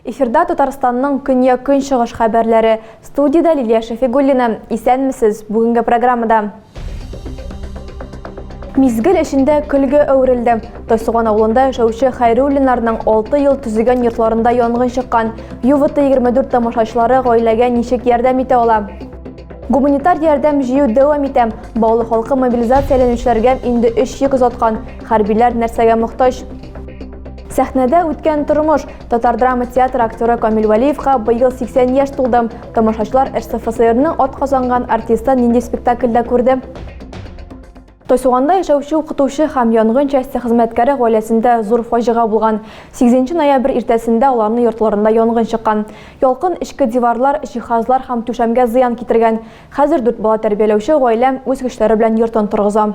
Эфирда Татарстанның көньяк-көнчыгыш хәбәрләре. Студияда Лилия Шәфигуллина. Исәнмесез. Бүгенге программада Мизгел эчендә көлгә әверелде. Тайсуган авылында яшәүче Хәйруллинарның 6 ел төзегән йортларында янгын чыккан. Ювыты 24 тамашачылары гаиләгә ничек ярдәм итә ала? Гуманитар ярдәм җыю дәвам итә. Баулы халкы мобилизацияләнүчеләргә инде 3 йөк озаткан. Хәрбиләр нәрсәгә мохтаҗ? Сәхнәдә үткән тормыш, Татар драма театры актеры Камил Валиевка быел 80 яшь тулды. Тамашачылар РСФСРның от казанган артисты нинди спектакльдә күрде? Тойсуганда яшәүче укытучы һәм янгын части хезмәткәре гаиләсендә зур фаҗига булган. 8 ноябрь иртәсендә аларны йортларында янгын чыккан. Ялкын эчке диварлар, җиһазлар һәм түшәмгә зыян китергән. Хәзер дүрт бала тәрбияләүче гаилә үз көчләре белән йортын торгыза.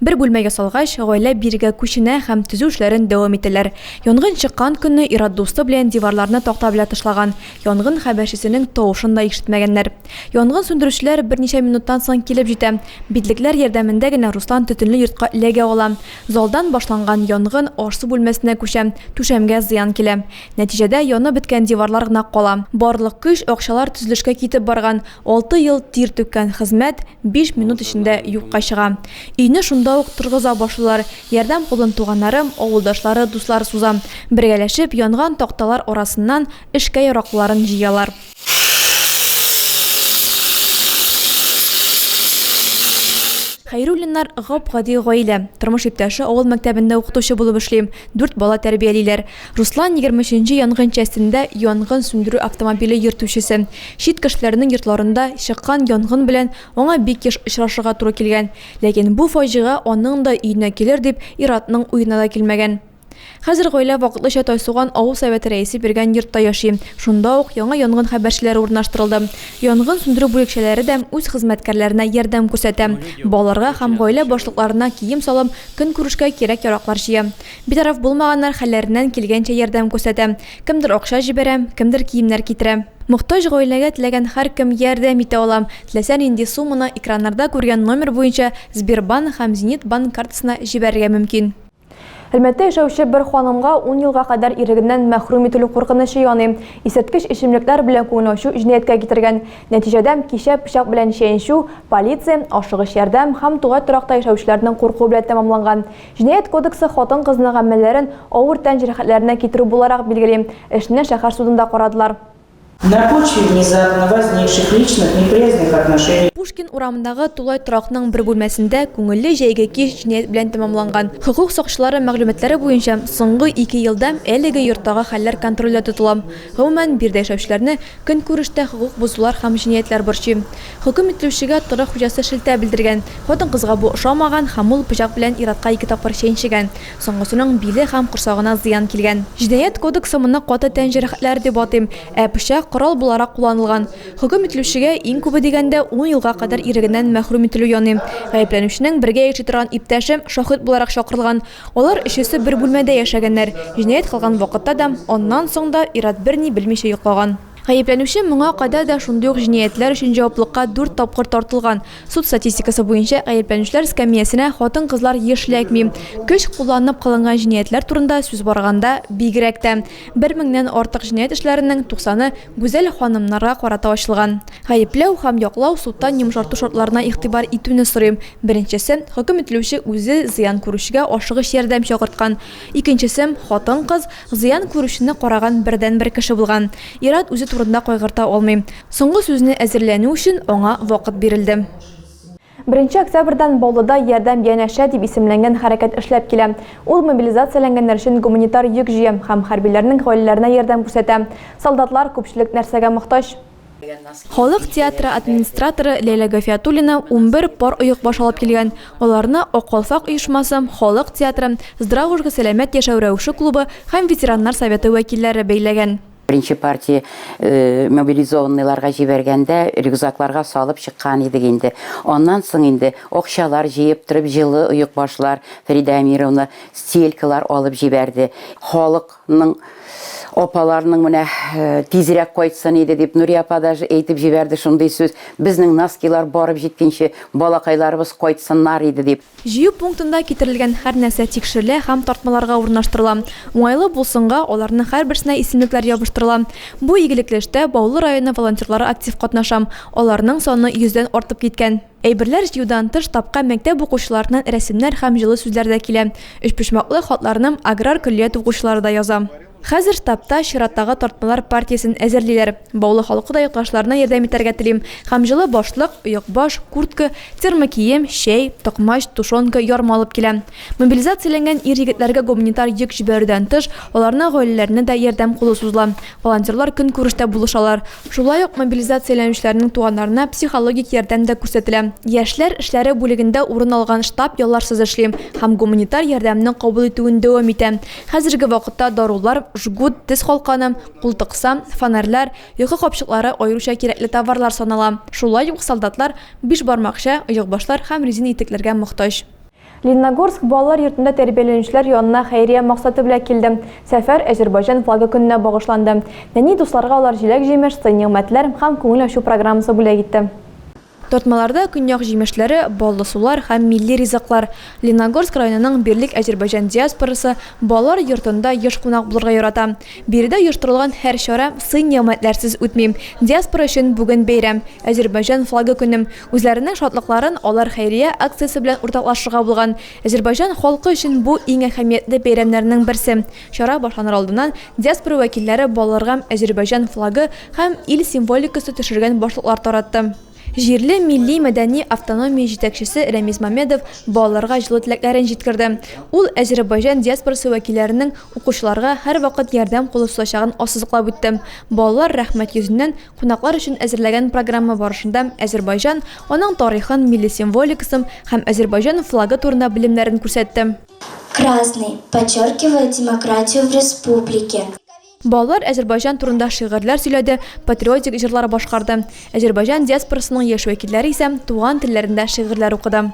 Бер бүлмә ясалгач, гаилә бирегә күченә һәм төзү эшләрен дәвам итәләр. Янгын чыккан көнне ир-ат дусты белән диварларны такта белән тышлаган, янгын хәбәрчесенең тавышын да ишетмәгәннәр. Янгын сүндерүчеләр берничә минуттан соң килеп җитә. Битлекләр ярдәмендә генә Руслан төтенле йортка эләгә ала. Залдан башланган янгын аш-су бүлмәсенә күчә, түшәмгә зыян килә. Нәтиҗәдә янып беткән диварлар гына кала. Барлык көч, акчалар төзелешкә китеп барган. Алты ел тир түккән хезмәт биш минут эчендә юкка чыга. Өйне шунда ук торгыза башлыйлар. Ярдәм кулын туганнарым, авылдашлары, дуслар суза. Бергәләшеп, янган такталар арасыннан эшкә яраклыларын җыялар. Хәйруллиннар, гап-гади гаилә. Тормыш иптәше авыл мәктәбендә укытучы булып эшли, дүрт бала тәрбиялиләр. Руслан, егерме өченче янгын частендә янгын сүндерү автомобиле йөртүчесе. Чит кешеләрнең йортларында чыккан янгын белән аңа бик еш очрашырга туры килгән. Ләкин бу фаҗига аның да өенә килер дип ир-атның уена да килмәгән. Хәзер гаилә вакытлыча Тайсуган авыл Советы рәисе биргән йортта яши. Шунда ук яңа янгын хәбәрчеләре урнаштырылды. Янгын сүндерү бүлекчәләре дә үз хезмәткәрләренә ярдәм күрсәтә. Балаларга һәм гаилә башлыкларына кием-салым, көнкүрешкә кирәк-яраклар җыя. Битараф булмаганнар хәлләреннән килгәнчә ярдәм күрсәтә. Кемдер акча җибәрә, кемдер киемнәр китерә. Мохтаҗ гаиләгә теләгән һәркем ярдәм итә ала, теләсә нинди сумманы экраннарда күргән номер буенча Сбербанк һәм Зенит банк картасына җибәрергә мөмкин. Әлмәттә яшәүче бер ханымга ун елга кадәр ирегеннән мәхрүм ителү куркынычы яный. Исерткеч эчемлекләр белән күңел ачу җинаятькә китергән. Нәтиҗәдә, кичә пычак белән чәенчү, полиция, ашыгыч ярдәм һәм тугай торакта яшәүчеләрнең куркуы белән тәмамланган. Җинаять кодексы хатын-кызның гамәлләрен авыр тән җәрәхәтләренә китерү буларак билгели. Эшне шәһәр судында карадылар. На почве внезапно возникших личных неприязненных отношений. Пушкин урамындагы тулай торакның бер бүлмәсендә күңелле җәйге кич җинаять белән тәмамланган. Хокук сакчылары мәгълүматлары буенча, соңгы ике елда әлеге йорттагы хәлләр контрольдә тотыла. Гомумән, биредә яшәүчеләрне көнкүрештә хокук бозулар һәм җинаятләр борчый. Хөкем ителүчегә торак хуҗасы шелтә белдергән. Хатын-кызга бу ошамаган һәм ул пычак белән ир-атка ике тапкыр чәнчегән. Соңгысының биле һәм корсагына зыян килгән. Җинаять кодексы моны каты тән җәрәхәтләре дип атыйм, ә пычак корал буларак кулланылган. Хөкем ителүчегә, иң күбе дигәндә, ун елга кадәр ирегеннән мәхрүм ителү яный. Гаепләнүченең бергә яши торган иптәше шаһит буларак чакырылган. Алар өчесе бер бүлмәдә яшәгәннәр. Җинаять кылган вакытта да, аннан соң да ир-ат берни белмичә йоклаган. Гаепләнүче моңа кадәр дә шундый ук җинаятьләр өчен җаваплыкка дүрт тапкыр тартылган. Суд статистикасы буенча гаепләнүчеләр скамиясенә хатын-кызлар еш ләкми. Көч кулланып кылынган җинаятьләр турында сүз барганда, бигрәк тә, бер меңнән артык җинаять эшләренең туксаны гүзәл ханымнарга карата ачылган. Гаепләү һәм яклау судтан йомшарту шартларына игътибар итүне сорый. Беренчесе, хөкем ителүче үзе зыян күрүчегә ашыгыч ярдәм чакырткан, Икенчесе, хатын-кыз, зыян күрүчене караган бердәнбер кеше булган. Ир-ат үзе турында кайгырта алмый. Соңгы сүзне әзерләнү өчен аңа вакыт бирелде. Беренче октябрьдән Баулыда Ярдәм янәшә дип исемләнгән хәрәкәт эшләп килә. Ул мобилизацияләнгәннәр өчен гуманитар йөк җыя һәм хәрбиләрнең гаиләләренә ярдәм күрсәтә. Солдатлар, күпчелек нәрсәгә мохтаҗ? Халык театры администраторы Ләйлә Гафиятуллина унбер пар оекбаш алып килгән. Аларны Ак калфак оешмасы, Халык театры, Здравушка сәламәт яшәү рәвеше клубы һәм ветераннар советы вәкилләре бәйләгән. Беренче партия мобилизованныйларга җибәргәндә рюкзакларга салып чыккан идек инде. Аннан соң инде акчалар җыеп торып җылы оекбашлар, Фәридә Әмировна стелькалар алып җибәрде. Халык Ның апаларының менә тизрәк кайтсын иде дип, Нурия апа даже әйтеп җибәрде шундый сүз, безнең носкилар барып җиткенче, балакайларыбыз кайтсыннар иде дип. Җыю пунктында китерелгән һәр нәрсә тикшерелә һәм тартмаларга урнаштырыла. Уңайлы булсынга, аларның һәрберсенә исемлекләр ябыштырыла. Бу игелекле эштә Баулы районы волонтерлары актив катнаша, аларның саны йөздән артып киткән. Әйберләр җыюдан тыш тапка мәктәп укучыларыннан рәсемнәр һәм җылы сүзләр дә килә. Өчпочмаклы хатларны аграр көллият укучылары да яза. Хәзер штабта чираттагы тартмалар партиясен әзерлиләр. Баулы халкы да якташларына ярдәм итәргә телим һәм җылы башлык, оекбаш, куртка, термокием, чәй, токмач, тушенка, ярма алып килә. Мобилизацияләнгән ир-егетләргә гуманитар йөк җибәрүдән тыш, аларның гаиләләренә дә ярдәм кулы сузыла. Волонтерлар көнкүрештә булышалар. Шулай ук мобилизацияләнүчеләрнең туганнарына психологик ярдәм дә күрсәтелә. Яшьләр эшләре бүлегендә урын алган штаб ялларсыз эшли һәм гуманитар ярдәмне кабул итүен дәвам итә. Хәзерге вакытта дарулар, жгут, тез калканы, култыкса, фонарьлар, йокы капчыклары аеруча кирәкле товарлар санала. Шулай ук солдатлар бишбармакча, оекбашлар һәм резина итекләргә мохтаҗ. Лениногорск балалар йортында тәрбияләнүчеләр янына хәйрия максаты белән килдем. Сәфәр Әзербайҗан флагы көненә багышланды. Нәни дусларга алар җиләк-җимеш, сый-нигъмәтләр һәм күңел ачу программасы бүләк итте. Тартмаларда көньяк җимешләре, баллы сулар һәм милли ризыклар. Лениногорск районының Бирлек Әзербайҗан диаспорасы балалар йортында еш кунак булырга ярата. Биредә оештырылган һәр чара сый-нигъмәтләрсез үтми. Диаспора өчен бүген бәйрәм, Әзербайҗан флагы көне. Үзләренең шатлыкларын алар хәйрия акциясе белән уртаклашырга булган. Әзербайҗан халкы өчен бу, иң әһәмиятле бәйрәмнәрнең берсе. Чара башланыр алдыннан диаспора вәкилләре балаларга Әзербайҗан флагы һәм ил символикасы төшергән башлыклар таратты. Җирле милли-мәдәни автономия җитәкчесе Рәмис Мамедов балаларга җылы теләкләрен җиткерде. Ул Әзербайҗан диаспорасы вәкилләренең укучыларга һәрвакыт ярдәм кулы сузачагын ассызыклап үтте. Балалар рәхмәт йөзеннән Кунаклар өчен әзерләгән программа барышында Әзербайҗан, аның тарихын, милли символикасын һәм Әзербайҗан флагы турында белемнәрен күрсәтте. Красный, подчеркивая демократию в республике. Балалар Әзербайҗан турында шигырьләр сөйләде, патриотик җырлар башкарды. Әзербайҗан диаспорасының яшь вәкилләре исә туган телләрендә шигырьләр укыды.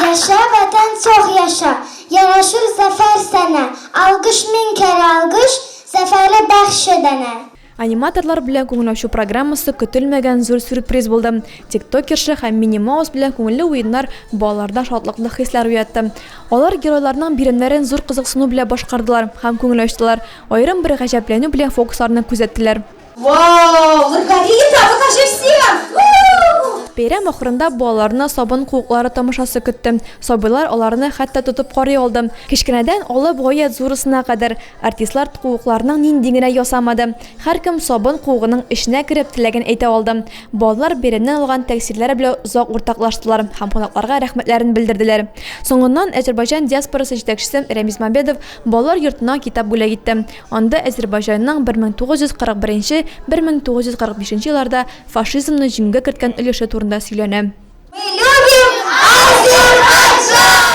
Яшә, Ватан, сог яша! Ярашыр зәфәр сәнә! Алгыш мең кәре алгыш, Зәфәре бәхше дәнә! Аниматорлар белән күңел ачу программасы көтелмәгән зур сюрприз булды. Тиктокерша һәм Мини Маус белән күңелле уеннар балаларда шатлыклы хисләр уятты. Алар геройларның биремнәрен зур кызыксыну белән башкардылар һәм күңел ачтылар, аерым бер гаҗәпләнү белән фокусларны күзәттеләр. Бәйрәм ахырында балаларны сабын куыклары тамашасы көтте. Сабыйлар аларны хәтта тотып карый алды. Кечкенәдән алып гаять зурысына кадәр, Артистлар ткуыкларның нинди генә ясамады. Һәркем сабын куыгының эченә кереп, теләген әйтә алды. Балалар бәйрәмнән алган тәэсирләре белә озак уртаклаштылар һәм кунакларга рәхмәтләрен белдерделәр. Соңыннан Әзербайҗан диаспорасы җитәкчесе Рәмис Мамбедов балалар йортына китап бүләк итте. Анда Әзербайҗанның 1941 1945 елларда фашизмны җиңүгә керткән өлеше турында сөйләнә. Мы любим Азербайджан!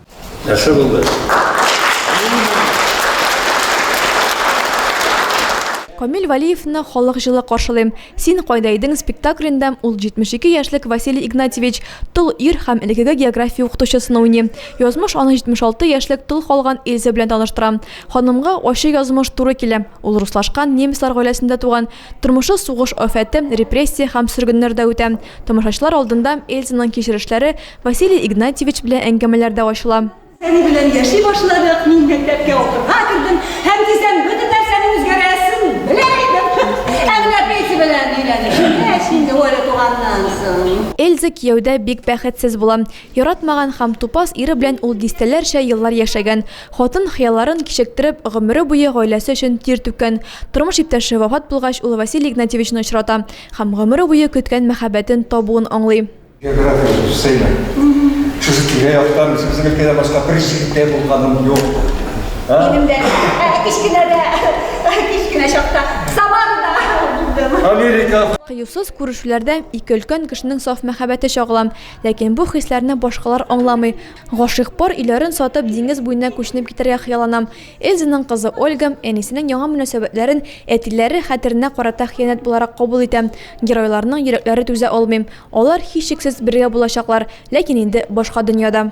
Яхшы булды. Камил Валиевны халык җылы каршылый. Син кайда идең спектаклендә ул 72 яшьлек Василий Игнатьевич тол ир һәм элекеге география укытучысын уйный. Язмыш аны 76 яшьлек тол калган Эльза белән таныштыра. Ханымга ачы язмыш туры килә. Ул руслашкан, немецлар гаиләсендә туган, Тормышы сугыш афәте, репрессия һәм сөргеннәрдә үтә. Тамашачылар алдында Эльзаның кичерешләре, Василий Игнатьевич белән әңгәмәләр дә ачыла. Әни белән яши башладык, мин мәктәпкә укырга кердем һәм тиздән бөтен нәрсәнең үзгәрәсен белә идем. Ә менә Петя белән өйләнешкәч, инде Оля туганнан соң. Эльза кияүдә бик бәхетсез була. Яратмаган һәм тупас ире белән ул дистәләрчә еллар яшәгән. Хатын, хыялларын кичектереп, гомере буе гаиләсе өчен тир түккән. Тормыш иптәше вафат булгач, ул Василий Игнатьевичны очрата һәм гомере буе көткән мәхәббәтен табуын аңлый. География сүз сыймый. Шушы тирә-яктан үзебезнең өлкәдән башка бер җирдә булганым юк. Минем дә кечкенәдә, кечкенә чакта Самарада булдым. Америка. Кыюсыз күрешүләрдә ике өлкән кешенең саф мәхәббәте чагыла. Ләкин бу хисләрне башкалар аңламый. Гашыйк пар өйләрен сатып, диңгез буена күченеп китәргә хыяллана. Эльзаның кызы Ольга әнисенең яңа мөнәсәбәтләрен әтиләре хәтеренә карата хыянәт буларак кабул итә. Геройларның йөрәкләре түзә алмый. Алар, һичшиксез, бергә булачаклар, ләкин инде башка дөньяда.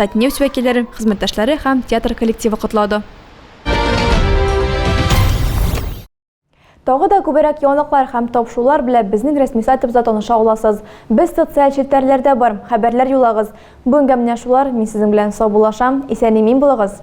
Татнефть вәкилләрен, хезмәттәшләре һәм театр коллективы котлады. Тагы да күберәк яңалыклар һәм тапшырулар белән безнең рәсми сайтыбызда таныша аласыз. Без социаль челтәрләрдә бар, хәбәрләр юлагыз. Бүгенгә менә шулар, мин сезнең белән саубуллашам. Исән-имин булыгыз!